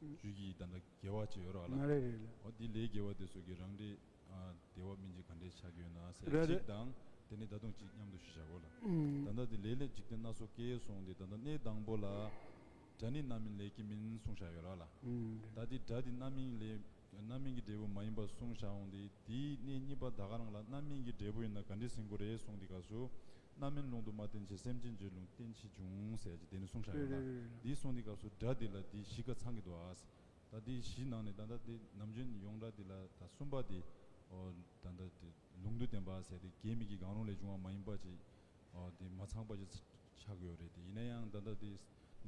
རིགས་ཀྱི་ད་ལྟ་དགེ་བ་ཅི་ཡོད་རག་ལ། ང་རེ་རེ་ལ། འོ་དེ་ལས་དགེ་བ་དེ་ཚོ་གི་རང་འགྲེ། དེ་བ་མིན་གྱི་ག་འདྲའི་ཆགས་ཀྱི་ཡོད་ན་ཟེར་རེ་རེ། གཅིག་དང། དེ་ནི་ད་དུང་གཅིག་མཉམ་དུ་ཞུ་བྱ་གོ་ལ། ད་ལྟ་དེ་ལས་ལས་འཇིག་རྟེན་སྣ་ཚོགས་སྐྱེས་སོང་སྟེ་ད་ལྟ་གནས་དང་པོ་ལ། སྒྲ་ནི་རྣམ་སྨིན་ལས་ཀྱི་མིན་གསུང་བྱ་ཡོད་རག་ལ། ད་དེ་སྒྲ་དེ་རྣམ་སྨིན་ལས། དོན་རྣམ་སྨིན་གྱི་འབྲས་བུ་མ་ཡིན་པར་གསུངས་བཞག་འོང་སྟེ་དེའི་གནས་གཉིས་པ་ད་ག་རང་ལ་རྣམ་སྨིན་གྱི་འབྲས་བུ་ཡོད་ན་ག་འདྲའི་ཟིན་གོ་རེ་གསུངས་ཏེ་ག་སུ། རྣམ་སྨིན་ལུང་དུ་མ་བསྟན་ཕྱིར་སེམས་ཅན་བརྗོད་ལུང་བསྟན་ཕྱིར་འབྱུང་ཟེར་གྱི་དེ་ནི་གསུངས་བཞག་ཡོད་ན་འདིས་གསུངས་ཏེ་ག་སུ་སྒྲ་འདི་ལ་འདི་བཞི་ཀ་ཚང་གི་འདུག་ཨ། ད་འདི་བཞི་ནང་ནས་ད་ལྟ་དེ་ནམ་རྒྱུན་ཡོང་སྒྲ་འདི་ལ་ད་གསུམ་པ་དེ་ཨོ། ད་ལྟ་དེ་ལུང་དུ་བསྟན་པ་ཟེར་ཏེ་གད་སྨིན་གྱི་གང་རུང་ལས་བྱུང་བ་མ་ཡིན་པ་ཅིག་ཨོ་དེ་མ་ཚང་པ་ཅིག། ཆགས་ཡོད་རེད་དེ་ཡིན་ན་ཡང་ད་ལྟ་དེ།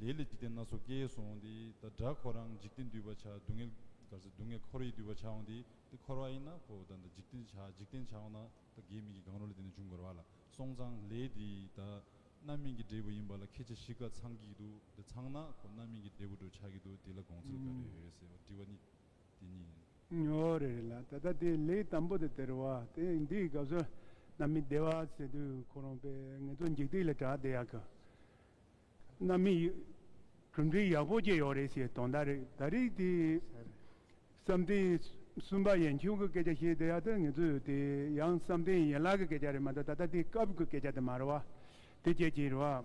ལས་ལ་འཇིག་རྟེན་སྣ་ཚོགས་སྐྱེས་སོང་དེ་ད་དགྲ་ཁོ་རང་འཇིག་རྟེན་འདུལ་བ་ཆགས་སྡུག་བསྔལ་ག་ཚོད་སྡུག་བསྔལ་ཁོར་ཡིག་འདུལ་བ་ཆགས་འོང་དེ་དེ་ཁོར་བ་ཡིན་ན་ཁོ་ད་ད་འཇིག་རྟེན་ཆགས་འཇིག་རྟེན་ཆགས་འོང་ན་ད་དགེ་མི་དགེ་གང་རུང་ལས་དེ་འདྲ་འབྱུང་དགོས་ར་བ་ལ་སོང་ཙང་ལས་དེ་ད་རྣམ་སྨིན་གྱི་འབྲས་བུ་ཡིན་པ་ལ་ཁྱེད་ཅག་གཞི་ག་ཚང་གིས་འདུག་དེ་ཚང་ན་ཁོ་རྣམ་སྨིན་གྱི་འབྲས་བུ་འགྲོ་ཆགས་ཀྱི་འདུག་དེ་ལ་དགོངས་ཚུལ་ག་རེ་ཡོད་རེད་ཟེར་བ་འདྲི་བ་ནི། དེ་ཉིད། ཉོ་བ་རེ་རེ་ལ་ད་ལྟ་དེ་ལས་དམ་པོ་དེ་སྟེར་བ་དེ་འདིའི་སྐབས་སུ་རྣམ་སྨིན་བདེ་བ་ཚེ་དུས་འཁོར་རུང་པའི་ངལ་དུ་འཇིགས་སྡིག་ལས་དྲག་བདེ་ཡག་གི་རྣམ་སྨིན་གྲུབ་འབྲས་ཡག་པོ་སྐྱེ་ཡོད་རེད་ཞེས་དོན་དག་རེ་ད་རིགས་དེ་བསམ་གཏན་གསུམ་པ་ཡན་ཆུང་གི་སྐད་ཆ་བཤད་བསྡད་ཡག་དེ་ངེད་ཚོས་དེ་ཡང་བསམ་གཏན་ཡན་ལག་གི་སྐད་ཆ་རེད་མ་གཏོགས་ད་ལྟ་དེ་སྐབས་ཀྱི་སྐད་ཆ་དེ་མ་རེད་བ་དེ་སྐྱེད་ཀྱིན་རེད་བ།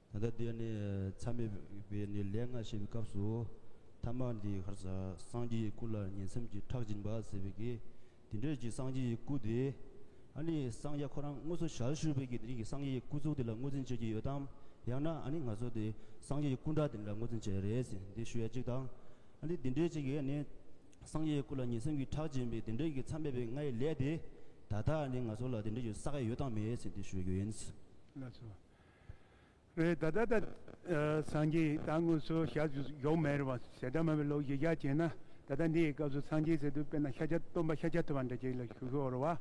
ད་ལྟ་དེ་ནི་མཚམས་མེད་པའི་ནི་ལས་ལྔ་བྱེད་པའི་སྐབས་སུ། ཐ་མ་འདིའི་ཁར་སངས་རྒྱས་ཀྱི་སྐུ་ལ་ཉིང་མཚམས་ཀྱི་ཁྲག་སྦྱིན་པ་ཟེར་བས་ཀྱི། དེ་འདྲའི་གྱི་སངས་རྒྱས་ཀྱི་སྐུ་དེ། ཨ་ནི་སངས་རྒྱས་ཁོ་རང་དངོས་སུ་ཞལ་བཞུགས་པས་ཀྱི་དེ་རིང་གི་སངས་རྒྱས་ཀྱི་སྐུ་གཟུགས་དེ་ལ་ངོས་འཛིན་བྱེད་ཀྱི་ཡོད་དམ། ཡང་ན་ཨ་ནི་ང་ཚོ་དེ་སངས་རྒྱས་ཀྱི་སྐུ་འདྲ་དེ་འདྲ་ངོས་འཛིན་བྱེད་རེད་ཟེར་འདི་ཞུ་ཡ་གཅིག་དང། ཨ་ནི་དེ་འདྲའི་གཅིག་གིས་ཨ་ནི་སངས་རྒྱས་ཀྱི་སྐུ་ལ་ཉིང་མཚམས་ཀྱི་ཁྲག་སྦྱིན་པའི་དེ་འདྲའི་གྱི་མཚམས་མེད་པའི་ལྔའི་ལས་དེ། ད་ལྟ་ཨ་ནི་ང་ཚོ་ལ་དེ་འདྲའི་གྱི་ས་ཀ་ཡོད་དང་མེད་ཟེར་འདི་ཞུ་རྒྱུ་ཡིན། ལ་སོ། རེད་ད་ད་ད། སངས་རྒྱས་ད་དངོས་སུ་ཞག་བཞུགས་མེད་རེད་བ་ཞེ་དྲག་མ་བའི་ལོ་བཞི་ཞག་བྱས་ན་ད་ལྟ་འདིའི་སྐབས་སུ་སངས་རྒྱས་ཟེར་དུས་དཔེར་ན་ཤ་ཆ་སྟོན་པ་ཤ་ཆ་ཐུབ་བ་འདྲ་ཅིག་ལ་ཞུ་ཤོག་རེད་བ།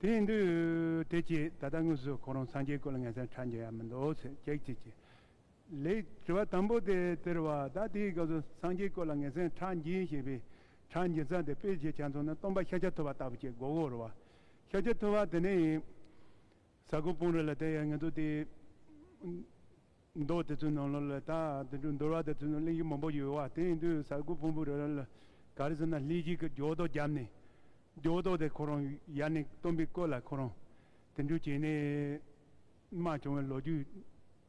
དེ་ཡིན་དུས་དེ་ཅི་ད་ལྟ་དངོས་སུ་ཁོང་རང་སངས་རྒྱས་སྐུ་ལ་ངལ་སེམས་ཕྲ་འཇལ་ཡ་མི་འདུག་ཟེར་ཅེག་ཅེག་ཅེག། ལེགས། དྲི་བ་དང་པོ་དེ་དེ་རེད་བ་ད་དེའི་སྐབས་སུ་སངས་རྒྱས་སྐུ་ལ་ངལ་སེམས་ཕྲ་འཇལ་ཞེས་པའི་ཕྲ་འཇལ་ཚ་དེ་དཔེ་ཇེ་ཆ་མཚོན་ན་སྟོན་པ་ཤ་ཆ་ཐུབ་བ་ལྟ་བུ་ཅིག་གོ་གོ་རེད་བ། ཤ་ཆ་ཐུབ་བ་དེ་ནས་ཡིན། ས་ཁུག་སྤུངས་རི་ལ་དེ་ཡང་ངེས་འདུག་སྟེ། མདོ་དེ་ཚོའི་ནང་ལོ་ལ་དག་དེ་འདྲའི་འདོར་བ་དེ་ཚོའི་ནང་གླེང་གཞི་མང་པོ་ཡོད་བ་དེ་ཡིན་དུས་ས་ཁུག་སྤུངས་པོའི་རི་ལ་ག་རེ་ཟེར་ན་ལྷས་བྱིས་ཀྱི་སྒྱོགས་རྡོ་བརྒྱབ་ནས་སྒྱོགས་རྡོ་དེ་ཁོ་རང་ཡར་ནས་བཏོན་པའི་སྐོར་ལ་ཁོ་རང་དེ་འདྲའི་བྱས་ནས་སྨྲ་བྱུང་བའི་ལོ་རྒྱུས།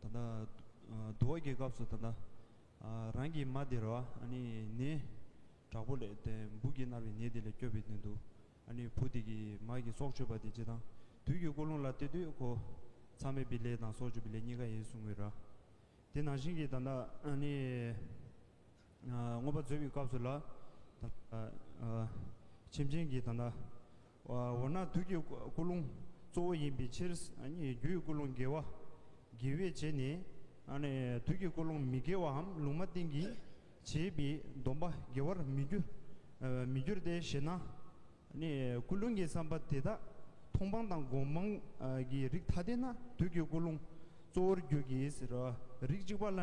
ད་ལྟ་དུ་བ་རྒྱལ་སྐབས་སུ་ད་ལྟ་རང་གི་མ་དེ་ར་བ་ནི་དྲག་པོ་ལས་དེ་འབུ་གིས་མནར་བའི་ནད་དེ་ལས་སྐྱོབ་པའི་དོན་དུ་བུ་དེ་གི་མ་གི་སྲོག་གཅོད་པ་དེ་ཇི་དང་དུས་ཀྱི་ཀོ་ལུང་ལ་སྟེ་དུས་ཁོ་ཚ་མེད་པའི་ལས་དང་སྲོག་གཅོད་པའི་ལས་གཉིས་ཀ་ཡིན་གསུང་བའི་ར་དེ་ནང་བཞིན་གྱི་ད་ལྟ་ནི་དངོས་པ་མཛོད་པའི་སྐབས་སུ་ལ་ད་ལྟ་ཁྱིམ་ཆེན་གྱི་ད་ལྟ་འོ་ན་དུས་ཀྱི་ཀུན་སློང་གཙོ་བོ་ཡིན་པའི་ཕྱིར། རྒྱུའི་ཀུན་སློང་དགེ་བ་དགེ་བས་བྱས་ནས། དུས་ཀྱི་ཀུན་སློང་མི་དགེ་བའམ་ལུང་མ་བསྟན་གྱིས་བྱས་པའི་སྡོམ་པ་དགེ་བར་མི་འགྱུར་ཏེ་ཞེ་ན། ཀུན་སློང་གི་བསམ་པ་དེ་དག་མཐོང་སྤང་དང་སྒོམ་སྤང་གི་རིགས་ཐ་དད་ན་དུས་ཀྱི་ཀུན་སློང་གཙོ་བོར་རྒྱུ་གྱིས་ཟེར་རོ། རིགས་གཅིག་པ་ལ་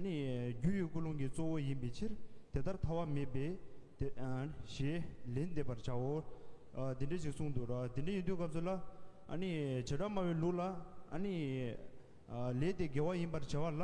ནི། རྒྱུ་ཡོད་ཀུན་སློང་གི་གཙོ་བོ་ཡིན་པའི་ཕྱིར། དེ་ལྟར་ཐ་བ་མེད་པས། ཞེས་ལན་འདེབས་པར་བྱའོ། འདི་འདྲའི་ཞིག་གསུངས་འདུག་རོ། དེ་འདྲ་ཡིན་དུས་སྐབས་སུ་ལ། བྱེ་བྲག་སྨྲ་བའི་ལུགས་ལ། ལས་དེ་དགེ་བ་ཡིན་པར་བྱ་བ་ལ།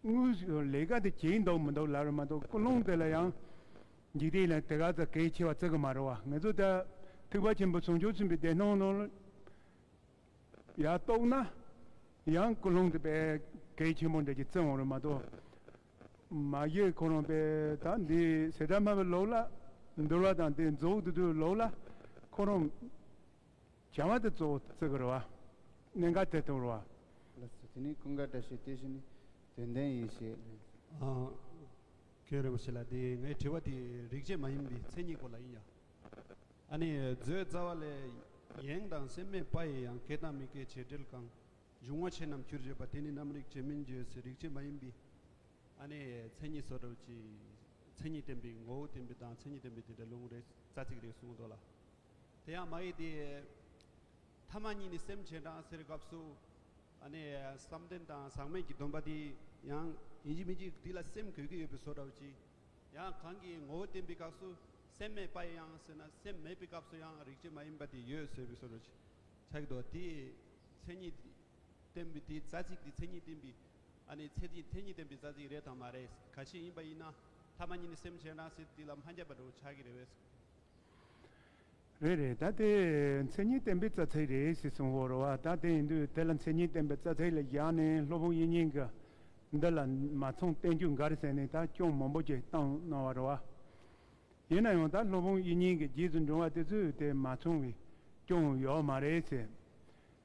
དངུལ་ཞིག་ལས་ཀ་དེ་བྱེད་ཀྱིན་འདུག་མི་འདུག་ལབ་རེ་མ་འདུག་ཀུན་སློང་དེ་ལ་ཡང། འཇིག་རྟེན་ལ་དེ་ག་ཚོད་གལ་ཆེ་བ་བརྩི་གི་མ་རེད་བ་ངེད་ཚོ་ད་ཐུགས་པ་ཆེན་པོ་ཟུང་ཆོག་ཚུན་པའི་བདེ་སྣང་ལོ། ཡ་རྟོགས་ན། ཡང་ཀུན་སློང་དེ་པས་གལ་ཆེན་པོ་འདྲ་གྱི་བརྩི་འོང་རེད་མ་གཏོགས། མ་གཞི་ཁོ་རང་པས་ད་འདི་ཟེ་དྲ་སྨྲ་བའི་ལོག་ལ། འདུལ་བ་དང་དེ་རྫོགས་དུ་དུའི་ལོག་ལ། ཁོ་རང། བྱ་བ་དེ་གཙོ་བོ་བརྩི་དགོས་རུ་བ། གནད་འགག་ཐད་གཏོང་རུ་བ། ལགས་སོ། དེ་ནས་ཀུན་དགའ་བཀྲ་ཤིས་དེ་བཞིན་ནི་དོན་ལྡན་ཡེ་ཤེས་ལས། ཁྱོད་རིན་པོ་ཆེ་ལགས་དེ་ངའི་དྲི་བ་དེ་རིག་བྱེད་མ་ཡིན་པའི་མཚན་ཉིད་སྐོར་ལ་ཡིན་ཡ། ཨ་ནི་བཟོའི་རྩ་བ་ལས་ཡེངས་དང་སེམས་མེད་པ་ཡི་ཡང་ཁེ་དང་མི་ཁེ་བྱེད་འབྲེལ་གང་འབྱུང་བ་ཆེ་རྣམས་ཁྱུར་བྱེད་པ་དེ་ནི་རྣམ་རིག་བྱེད་མིན་བརྗོད་སའི་རིག་བྱེད་མ་ཡིན་པའི་ཨ་ནི་མཚན་ཉིད་སོ་སྒྲུབ་ཀྱི་མཚན་ཉིད་བསྟན་པའི་མགོ་བོ་བསྟན་པའི་དང་མཚན་ཉིད་བསྟན་པའི་དེ་འདྲ་ལུང་རེ་རྩ་ཚིག་རེ་གསུངས་འདུག་ལ། དེ་ཡང་མ་ཡིག་དེའི་ཐ་མ་གཉིས་ནི་སེམས་ཅན་གྲངས་ཟེར་སྐབས་སུ་ནི་བསམ་གཏན་དང་ཟག་མེད་ཀྱི་སྡོམ་པ་དེ་ཡང། ཡིན་གྱི་མིན་གྱི་དེ་ལ་སེམས་གོས་ཀྱི་ཡོད་པའི་བཟོ་འདྲ་བ་གཅིག། ཡང་གང་གིས་ངོ་བོ་བསྟན་པའི་སྐབས་སུ་སེམས་མེད་པ་ཡང་ཟེར་ན་སེམས་མེད་པའི་སྐབས་སུ་ཡང་རིག་བྱེད་མ་ཡིན་པ་དེ་ཡོད་ཟེར་བའི་བཟོ་འདྲ་གཅིག་ཆགས་ཀྱི་འདུག་དེའི་མཚན་ཉིད་བསྟན་པའི་དེའི་རྩ་ཚིག་དེའི་མཚན་ཉིད་བསྟན་པའི་ནི་ཚད་ཀྱི་མཚན་ཉིད་བསྟན་པའི་རྩ་ཚིག་རེད་དམ་མ་རེད་ག་ཞིག་ཡིན་པ་ཡིན་ན་ཐ་མ་གཉིས་ནི་སེམས་ཅན་གྲངས་ཟེར་དེ་ལ་མ་འགལ་བ་འདྲ་བོ་ཆགས་ཀྱི་རེད་བས་རེད་རེད་ད་དེ་མཚན་ཉིད་བསྟན་པའི་རྩ་ཚིག་རེད་ཞེས་གསུང་བོར་བ་ད་དེ་ཡིན་དུས་དེ་ལ་མཚན་ཉིད་བསྟན་པའི་རྩ་ཚིག་ལ་བཞག་ནས་ལྷོ་བོང་ཡིག་རྙིང་གི་འདི་ལ་མ་མཚུངས་བསྟན་རྒྱུ་འགའ་རེ་བསྲེས་ནས་ད་སྐྱོང་མང་པོ་ཅིག་བཏང་གནང་བར་བ། ཡིན་ན་ཡང་ད་ལྷོ་བོང་ཡིག་རྙིང་གི་རྗེས་སུ་འབྲང་བ་དེ་ཚོས་དེ་མ་མཚུངས་བའི་སྐྱོང་ཡོད་མ་རེད་ཟེར།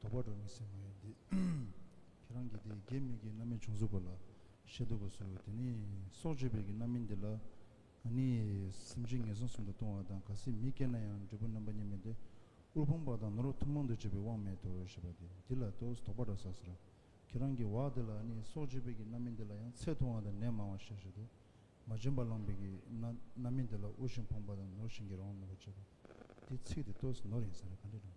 དོགས་པ་འགྲོ་མི་སྲིད་མ་ཡིན་ཏེ། ཁྱེད་རང་གིས་དེ་རྒྱས་མིག་གི་རྣམ་སྨིན་བྱུང་གཟུགས་པ་ལ་ཤེས་འདུག་པ་སོ། དེ་ནི་སྲོག་གཅོད་པའི་གི་རྣམ་སྨིན་དེ་ལ། ང་ནི་སེམས་ཅན་ངན་སོང་གསུམ་དུ་ལྟུང་བ་དང་ག་སྲིད་མི་སྐྱེ་ན་ཡང་འབྲས་བུ་རྣམ་པ་གཉིས་མེད་དེ། དབུལ་ཕོངས་པ་དང་ནོར་བུ་ཐུགས་མང་དུ་བྱེད་པའི་དབང་མེད་དོ་ཞེས་པ་དེ་འདི་ལ་དོགས་པ་འགྲོ་ས་ཟེར་རོ། ཁྱེད་རང་གི་བག་དེ་ལ་ནི་སྲོག་གཅོད་པའི་གི་རྣམ་སྨིན་དེ་ལ་ཡང་ཚད་མཐོ་བ་དང་ནད་མང་བ་ཤས་ཆེ་སྟེ། མ་བྱིན་པ་བླངས་པའི་གི་རྣམ་སྨིན་དེ་ལ་དབུལ་ཞིང་ཕོངས་པ་དང་ནོར་བཞིན་གྱི་རང་དབང་མེད་པར་བྱེད་པ། དེའི་ཚིག་དེ་དོགས་ནོར་ཡིན་ཟེར་ན་ག་འདྲས་འགྲོ།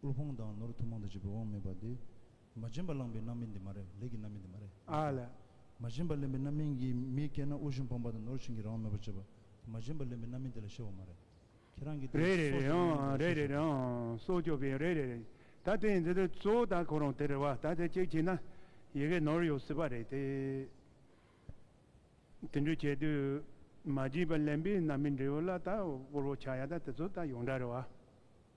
དབུལ་ཕོངས་དང་ནོར་ཐུབ་མང་དུ་བྱེད་པའི་དབང་མེད་པ་དེ། མ་བྱིན་པ་བླངས་པའི་རྣམ་སྨིན་དེ་མ་རེད་ལས་ཀྱི་རྣམ་སྨིན་དེ་མ་རེད་མི་འཐད། མ་བྱིན་པ་ལེན་པའི་རྣམ་སྨིན་གྱིས་མི་སྐྱེད་ན་དབུལ་ཞིང་ཕོངས་པ་དང་ནོར་བྱིན་གྱིས་རང་དབང་མེད་པར་བྱེད་པ་དེ་མ་བྱིན་པ་ལེན་པའི་རྣམ་སྨིན་དེ་ལ་ཤེས་བ་མ་རེད། ཁྱེད་རང་གིས་དེ་རེད་རེད་རེད་སྲོག་སྐྱོབ་ཨང་རེད་རེད་རེད་ཨང་སྲོག་སྐྱོབ་པའི་རེད་རེད་རེད་ད་དེ་ཡིན་དེ་དེ་གཙོ་བོ་ད་ཁོ་རང་དེ་རེད་བ་ད་དེ་གཅིག་བྱས་ན་ཡི་གེ་ནོར་ཡོད་སྲིད་པ་རེད་དེ། དེ་འདྲ་བྱས་དུས་མ་བྱིན་པ་ལེན་པའི་རྣམ་སྨིན་འབྲས་བུ་ལ་ད་དབུལ་བོ་ཆགས་ཡ་ད་དེ་ཚོ་ད་ཡོངས་གྲགས་རེད་བ།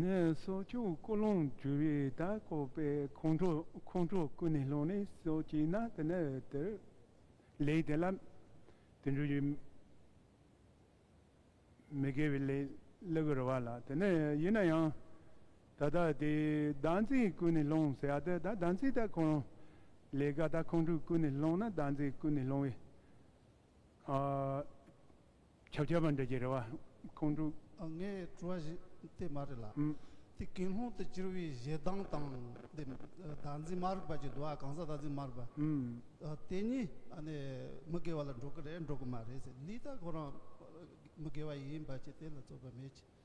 ནས་སོག་ཆུ་ཀོ་ལོང་བརྒྱུད་རི་དྭགས་བཀོད་པའི་ཁོང་ཁྲོ་ཁོང་ཁྲོ་ཀུན་ནས་སློང་ནས་སོག་ཆུའི་ནང་དུ་ནི་དེར་ལེགས་དེ་ལ་དེ་འགྲུལ་གྱི། མི་དགེ་བའི་ལས་ལེགས་པར་བ་ལ་དེ་ནི་ཡིན་ན་ཡང། ད་ལྟ་དེ་བདག་འཛིན་ཀུན་ནས་སློང་ཟེར་ཡ་དེ་ད་བདག་འཛིན་ད་ཁོང་ལས་ཀ་ད་ཁོང་ཁྲོ་ཀུན་ནས་སློང་ན་བདག་འཛིན་ཀུན་ནས་སློང་བས། ཆབ་ཆ་བ་འདྲ་གྱི་རེ་བ་ཁོང་དྲུག། ངའི་དྲི་བ་དེ་མ་རེད་ལ། དེ་གིན་ལྷུང་དུ་གྱུར་བའི་གཞས་གདངས་དང་དེ་བདག་འཛིན་མ་རིག་པ་ཀྱི་དུ་བ་གང་ཟག་བདག་འཛིན་མ་རིག་པ། དེ་གཉིས་མི་དགེ་བ་ལ་འགྲོ་གི་རེད་འགྲོ་གི་མ་རེད་ཟེར་ལུས་ད་ཁོ་རང་མི་དགེ་བ་ཡིན་པ་ཅི་དེ་ལ་རྩོད་པ་མེད་ཅི།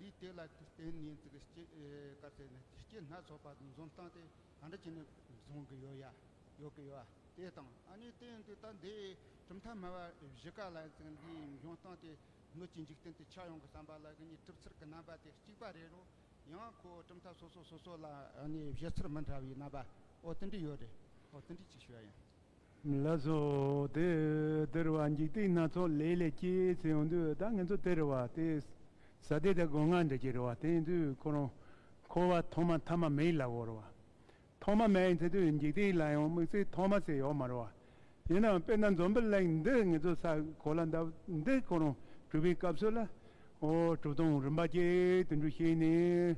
ལུས་དེ་ལ་བརྟེན་ནས་ཚིག་སྐྱེས་བཀའ་སྩལ་ནས་ཚིག་སྐྱེས་སྣ་ཚོགས་པ་འཛོམས་སྟངས་དེ་ག་འདྲ་བྱས་ནས་བཟུང་གི་ཡོད་ཡ། ཡོད་གི་ཡོད་ཡ་དེ་དང་ཨ་ནི་དེ་ཡིན་དུས་ད་ལྟའི་གྲུབ་མཐའ་སྨྲ་བ་བཞི་ཀ་ལ་ཚིག་འདིའི་འབྱུང་སྟངས་དེ་སྣོད་ཀྱི་འཇིག་རྟེན་དུ་ཆགས་ཡོང་གི་བསམ་པ་ལ་གི་ནི་གྲུབ་ཚུལ་གྱི་རྣམ་པ་དེ་གཅིག་པ་རེད་རོ། ཡང་ཁོ་གྲུབ་མཐའ་སོ་སོ་སོ་སོ་ལ་ཨ་ནི་བཞེད་ཚུལ་མི་འདྲ་བའི་རྣམ་པ་ཨོ་དེ་འདྲ་ཡོད་རེད། ཨོ་དེ་འདྲ་ཅིག་ཤོས་ཡིན། ལ་སོགས་ཏེ། དེར་བར་འཇིག་རྟེན་སྣ་ཚོགས་ལས་ལས་སྐྱེས་ཚེ་འོང་དུས་ད་ངན་ཚོ་དེར་བར་ཏེ། ས་སྡེ་དང་སྒོ་ང་འདྲེ་ཀྱི་རེ་བ་བརྟེན་དུས་ཁོ་རང་འཁོར་བ་ཐོག་མ་ཐ་མ་མེད་ལ་བོར་བ། ཐོག་མ་མེད་ཡིན་ཚེ་དུས་འཇིག་རྟེན་ལ་ཡང་དམིགས་བསལ་ཐོག་མ་ཟེར་ཡོག་མ་རུང་བ། ཡིན་ནའང་དཔེར་ན་འཛོམས་པའི་གླིང་འདི་ངན་ཚོ་ས་གོ་ལ་འདབ་འདི་ཁོ་རང་གྲུབ་པའི་སྐབས་སུ་ལ། ཧོ། གྲུབ་སྟངས་རིམ་པ་བརྒྱད་དུ་འགྲུབ་ཤེས་ནས།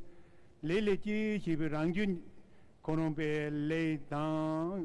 ལས་ལས་སྐྱེས་ཞེས་པའི་རང་རྒྱུད། ཁོ་རང་པའི་ལས་དང།